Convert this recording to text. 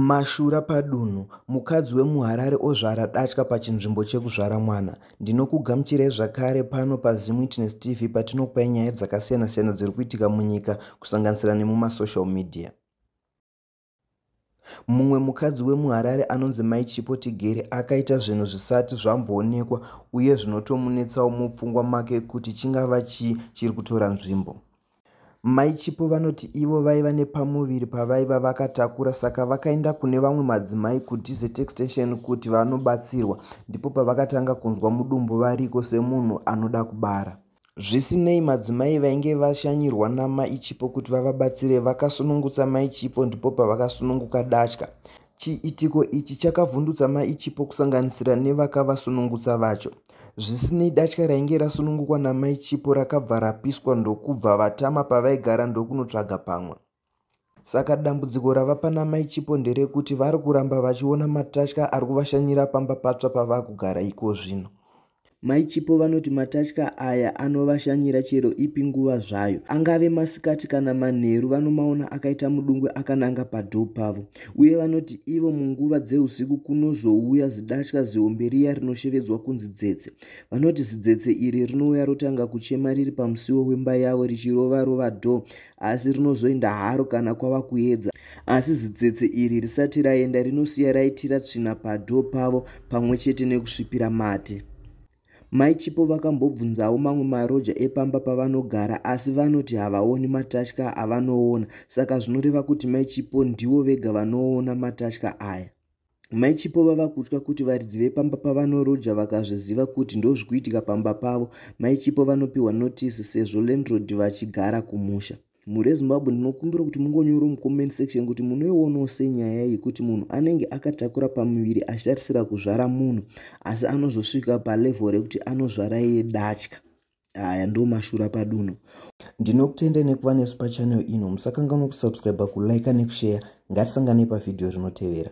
Mashura padunhu, mukadzi wemuHarare ozvara datya pachinzvimbo chekuzvara mwana. Ndinokugamuchirai zvakare pano paZim Witness TV patinokupai nyaya dzakasiyana siyana dziri kuitika munyika kusanganisira nemumasocial media. Mumwe mukadzi wemuHarare anonzi Mai Chipo Tigere akaita zvinhu zvisati zvamboonekwa uye zvinotomunetsawo mupfungwa make kuti chingava chii chiri kutora nzvimbo. Mai Chipo vanoti ivo vaiva nepamuviri pavaiva vakatakura saka vakaenda kune vamwe madzimai kuDZ Extension kuti vanobatsirwa ndipo pavakatanga kunzwa mudumbu variko semunhu anoda kubara. Zvisinei madzimai vainge vashanyirwa naMai Chipo kuti vavabatsire vakasunungutsa Mai Chipo ndipo pavakasununguka datya. Chiitiko ichi chakavhundutsa Mai Chipo kusanganisira nevakavasunungutsa vacho. Zvisinei datya rainge rasunungukwa naMai Chipo rakabva rapiswa ndokubva vatama pavaigara ndokunotsvaga pamwe. Saka dambudziko rava pana Mai Chipo nderekuti vari kuramba vachiona matatya ari kuvashanyira pamba patsva pavakugara ikozvino. Mai Chipo vanoti matatya aya anovashanyira chero ipi nguva zvayo. Angave masikati kana manheru vanomaona akaita mudungwe akananga padho pavo. Uye vanoti ivo munguva dzeusiku kunozouya zidatya zihombe riya rinoshevedzwa kunzi dzetse. Vanoti zidzetse iri rinouya rotanga kuchema riri pamusiwo wemba yavo richirova rova dho asi rinozoenda haro kana kwava kuedza asi zitsetse iri risati raenda rinosiya raitira tsvina padho pavo pamwe chete nekusvipira mate mai chipo vakambobvunzawo mamwe maroja epamba pavanogara asi vanoti havaoni matatya avanoona saka zvinoreva kuti mai chipo ndivo vega vanoona matatya aya Mai Chipo vava kutya kuti varidzi vepamba pavanoroja vakazviziva kuti ndozvikuitika pamba pavo. Mai Chipo vanopiwa notisi sezvo landlord vachigara kumusha. Mhuri yeZimbabwe ndinokumbira kuti mungonyoro mucomment section kuti munoionawo senyaya yekuti munhu anenge akatakura pamuviri achitarisira kuzvara munhu asi anozosvika palevel rekuti anozvara iye datya. aya ndo mashura padunhu ndinokutendai nekuva nesu pachannel ino musakanganwa kusubscribe kulike nekushare ngatisanganei pavhidhiyo rinotevera